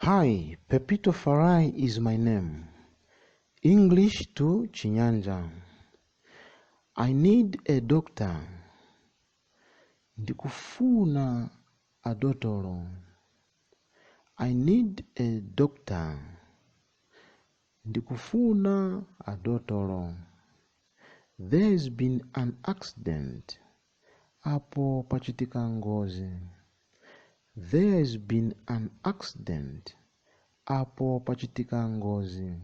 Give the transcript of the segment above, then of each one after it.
Hi, Pepito Farai is my name. English to Chinyanja. I need a doctor. Ndikufuna a dotolo. I need a doctor. Ndikufuna a dotolo. There's been an accident. apo pachitika ngozi. There's been an accident. Apo pachitika ngozi.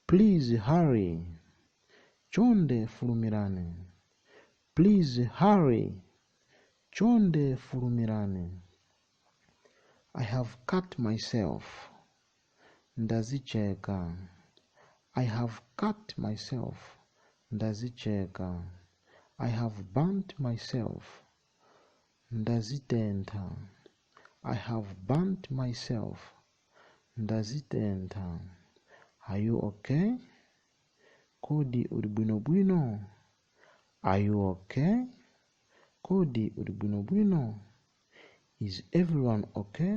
Please hurry. Chonde fulumirani. Please hurry. Chonde fulumirani. I have cut myself. ndazicheka i have cut myself ndazicheka i have burnt myself ndazitentha i have burnt myself ndazitentha are you okay kodi uli bwinobwino are you okay kodi uli bwinobwino is everyone okay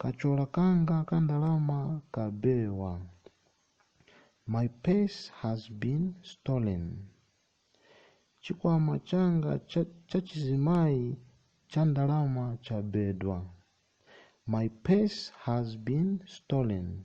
Kachola kanga ka ndalama kabewa. My purse has been stolen. Chikwama changa cha, cha chizimayi cha ndalama chabedwa. My purse has been stolen.